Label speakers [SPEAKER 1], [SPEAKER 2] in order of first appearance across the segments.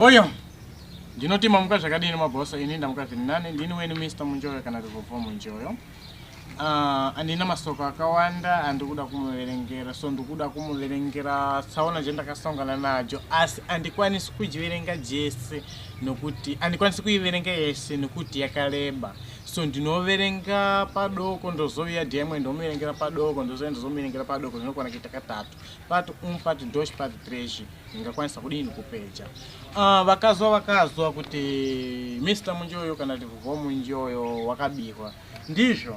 [SPEAKER 1] Oyo ndinoti mamuka zvakadini mabhosa ini ndamuka zviri nani ndini weni Mr Munjoyo kana Rivovo Munjoyo ah, andina masoko akawanda andikuda kumuverengera so ndikuda kumuverengera tsaona chandakasongana nacho asi andikwanisi kujiverenga jese nokuti andikwanisi kuiverenga yese nokuti yakareba so ndinoverenga padoko ndozoviya dmwe ndomuverengera padoko ndozoya ndozomuverengera padoko zvinokwana kuita katatu But um part ndosh part trash ingakwanisa kudini kupeja. Ah uh, vakazwa vakazwa kuti Mr Munjoyo kana kuti Vho Munjoyo wakabihwa. Ndizvo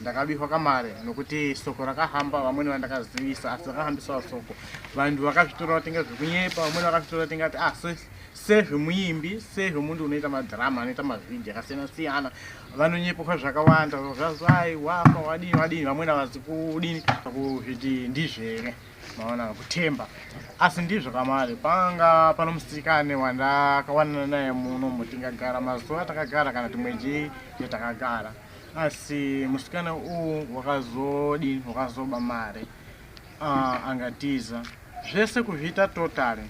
[SPEAKER 1] ndakabihwa kamare nokuti soko rakahamba vamweni vandakazivisa asi vakahambisawo soko vanhu vakazvitora vatenga zvekunyepa vamweni vakazvitora vatenga kuti ah sezvemuimbi sezvemunhu unoita madhirama anoita mavhidhi akasiyana siyana vanonyepoka zvakawanda zvazai wafa wadii wadii vamwene avazi kudini kuzviti ndizvere maona kutemba asi ndizvo kamari panga pano musikane wandakawanana naye muno mutingagara mazuva takagara kana timwe jii yetakagara asi musikane uwu wakazodini wakazoba mari uh, angatiza zvese kuzviita totally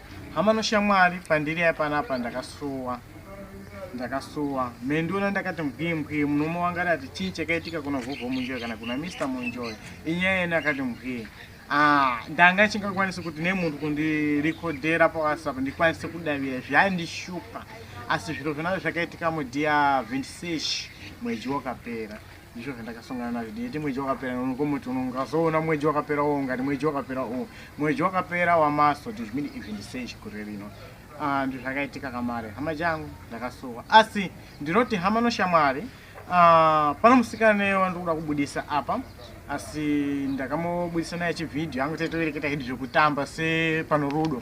[SPEAKER 1] Hama noshamwari pandiri ya panapa ndakasuwa ndakasuwa me ndiona ndakati mbwi mbwi munomo wanga rati chii chakaitika kuna vhovho munjoy kana kuna mr munjoy inyaya yene akati mbwi ah, ndanga chingakwanisi kuti nemunhu kundirekodhera pawhatsapp ndikwanise kudavira zvandishupa asi zviro zvinazvo zvakaitika mudia 26 mwedzi wakapera ndizvo zvandakasongana nazvo ndiyeti mweji wakapera nokomoti unongazoona mweji wakapera wo ungati mweji wakapera u mweji wakapera wamaso tizvimini izvi ndisei chikure rino ah, ndizvo zvakaitika kamare hama jangu ndakasuwa asi ndinoti hama noshamwari ah, pano musikana wandiri kuda kubudisa apa asi ndakamubudisa naye chivhidhiyo angu taitovereketa hedu zvekutamba sepano rudo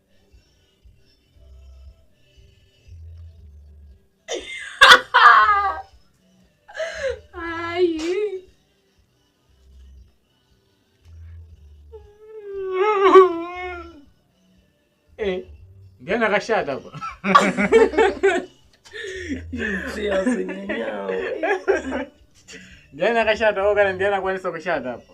[SPEAKER 1] Yana akashata apa. Ndiani akashata wo kana ndiani akwanisa kushata apa?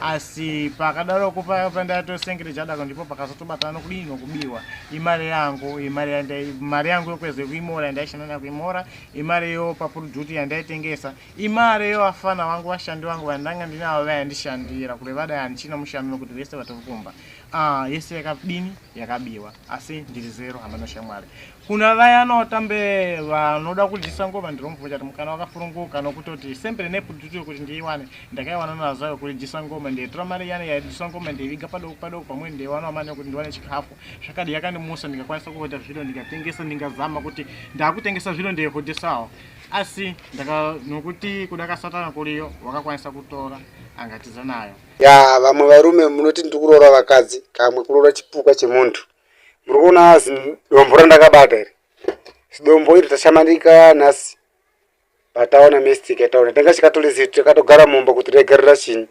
[SPEAKER 1] asi pakadaroko paya pandatosengere chadako ndipo pakazotobatana nokudii nokubiwa imari yangu imari mari yangu yokweze kuimora yandaishanda nayo kuimora imari yo papuruduti yandaitengesa imari yo afana vangu vashandi vangu vandanga ndinavo vayandishandira kure vadai handichina mushando nokuti vese vatiri kumba ah, yese yakadini yakabiwa asi ndiri zero hameno shamwari kuna vaya anotambe vanoda kudyisa ngoma ndirombvunja kuti mukana wakafuruguka nokutoti sempre nepudutu yokuti ndiiwane ndakaiwana nazo yokudyisa ngoma ndeitora mari yane yaidyisa ngoma ndeiviga padoko padoko pamwe ndeiwanawo mari yokuti ndiwane chikafu zvakadi yakandimusa ndikakwanisa kuhodha zviro ndikatengesa ndingazama kuti ndakutengesa zviro ndeihodhesawo asi ndaka nokuti kuda kasatana kuriyo wakakwanisa kutora angatiza nayo ya vamwe varume munoti ndiri kuroora vakadzi kamwe kuroora chipuka chemunhu muri kuona zidombo randakabata iri zidombo iri tashamanika nhasi pataona mistake yataona tanga chikatore zitu takatogara mumba kuti regerera chini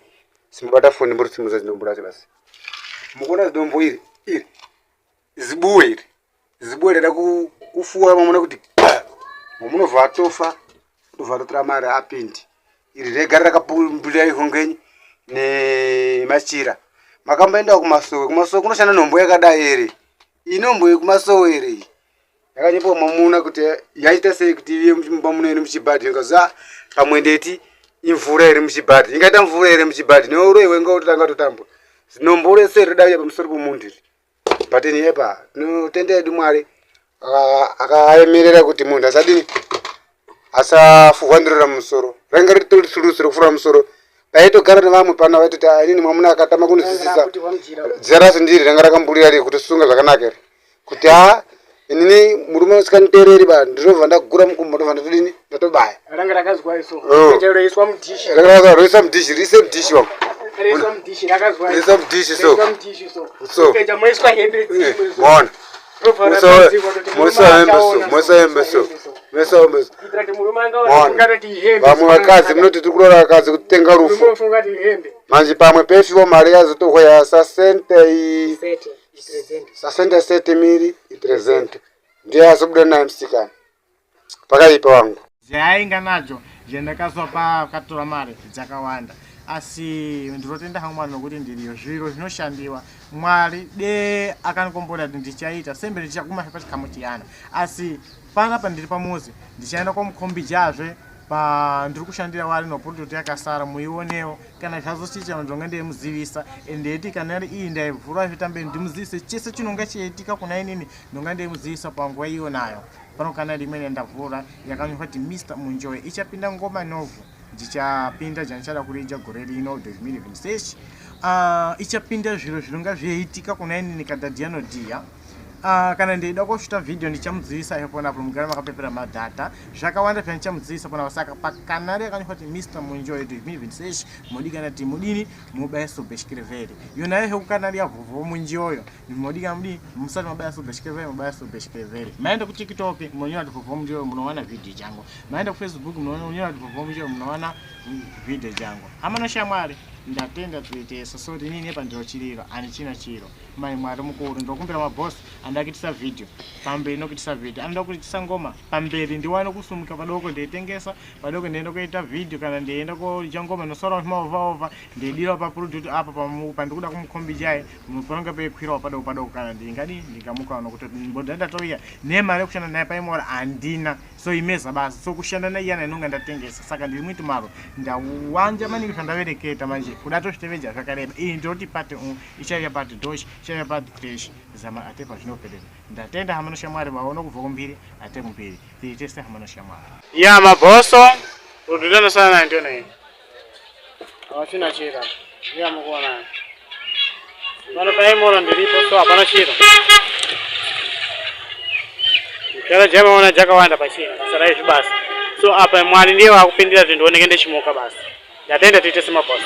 [SPEAKER 1] simubata foni muri simuza zidombo racho basi mukuona zidombo iri iri zibuwe iri zibuwe rada kufuwa mamona kuti mamunobva atofa ndobva ndotora mari apindi iri regari rakabuda ikongenyi nemachira makamboendawo kumasowe kumasowe kunoshanda nhombo yakadai ere inombo yekumasowe ere iyi yakanyepawo mamuna kuti yaita sei kuti iye mumba muno iri muchibhadhi ndikaza pamwe ndeti imvura iri muchibhadhi ingaita mvura ere muchibhadhi neuroyi wenga utotanga totambwa zinombo rese rinodauya pamusoro pomunhu iri patini epa tinotenda yedu mwari akaemerera kuti munhu asadini asafuhwa ndiro ramusoro rainge ritori sulusi rekufura musoro paitogara nevamwe pano vaitoti ah, inini mwamuna akatama kunizisisa dzira rasi ndiri ranga rakamburira ri kutisunga zvakanaka ri kuti ha ah, inini murume usikanitereri ba ndinobva ndagura mukumbo ndobva ndatodini ndatobaya ranga rakazwaiso oh. roiswa mudhishi ranga rakaroiswa mudhishi rise mudhishi wako roiswa mudhishi rakazwaiso roiswa mudhishi so roiswa mudhishi so so ukaita moiswa hembe dzimwe eh, so mona vamwe vakadzi munoti tiri kurora vakadzi kutenga rufu manje pamwe pefiwo mari yazotohwa yasasentei sasende sete miri ipresente ndiye azobuda naye musikana pakaipa wangu zvaainga nacho zvendakaswa paakatora mari dzakawanda asi ndinotenda hangu mwari nokuti ndiriyo zviro zvinoshandiwa mwari de akanikombora kuti ndichaita sembe ndichaguma pachikamu chiyana asi panapa ndiri pamuzi ndichaenda kwamukombijazve pandiri kushandira wari noprototi yakasara muionewo kana zvazochiita ndonge ndeimuzivisa and iti kana ri iyi ndaivhura zvitambe ndimuzivise chese chinonge chiitika kuna inini ndonge ndeimuzivisa panguva iyo nayo pano kana rimwe nendavhura yakanyorwa kuti mr munjoe ichapinda ngoma novhu ndichapinda jandichada kurija gore rino dozmiri vimsesh uh, ah, ichapinda zviro zvinonga zveiitika kuna inini kadhadhiyanodhiya Uh, kana ndeida kushuta video ndichamudzivisa ipo napo mugara makapepera madhata zvakawanda pya ndichamudzivisa pona saka pakanari yakanyofa kuti mr munjoy to me even sesh modi kana ti mudini mubaya so beshkireveri yona yahe kukanari yavovo munjoyo modi kana mudi musati mabaya so beshkireveri mubaya so beshkireveri maenda ku tiktok munonyora kuti vovo munjoyo munowana video jangu maenda ku facebook munonyora kuti vovo munjoyo munowana video jangu hamana shamwari ndatenda tuiteso so rinini pandiro chiriro ani china chiro mai mwari mukuru ndokumbira maboss anoda kuitisa video pamberi nokuitisa video anoda kuitisa ngoma pamberi ndiwane kusumuka padoko ndeitengesa padoko ndeienda kuita video kana ndeienda koja ngoma nosora maovaova ndeidira paproduct apa pandikuda kumukhombijai panonga peikwirawo padoko padoko kana ndingadi ndingamukawo nokuti mboda ndatouya nemari yekushanda naye paimora handina so imeza basa so kushanda naiyana inonga ndatengesa saka ndiri muiti maro ndawanja maningi zvandavereketa manje kuda tozviteveja zvakareba iyi ndinoti pati ichauya but dosh ichauya but crash zama ate pazvinoperera ndatenda hamano shamwari vaona kubva kumbiri ate kumbiri tiri tese hamano shamwari ya mabhoso rududano sana nayo ndiyo nayo hawachina chira iya mukuona pano paimona ndiripo so hapana chira chara jamaona jakawanda pachina basa raizvi basa so apa mwari ndiye vakupindira kuti ndioneke ndechimuka basa ndatenda tiite semabhoso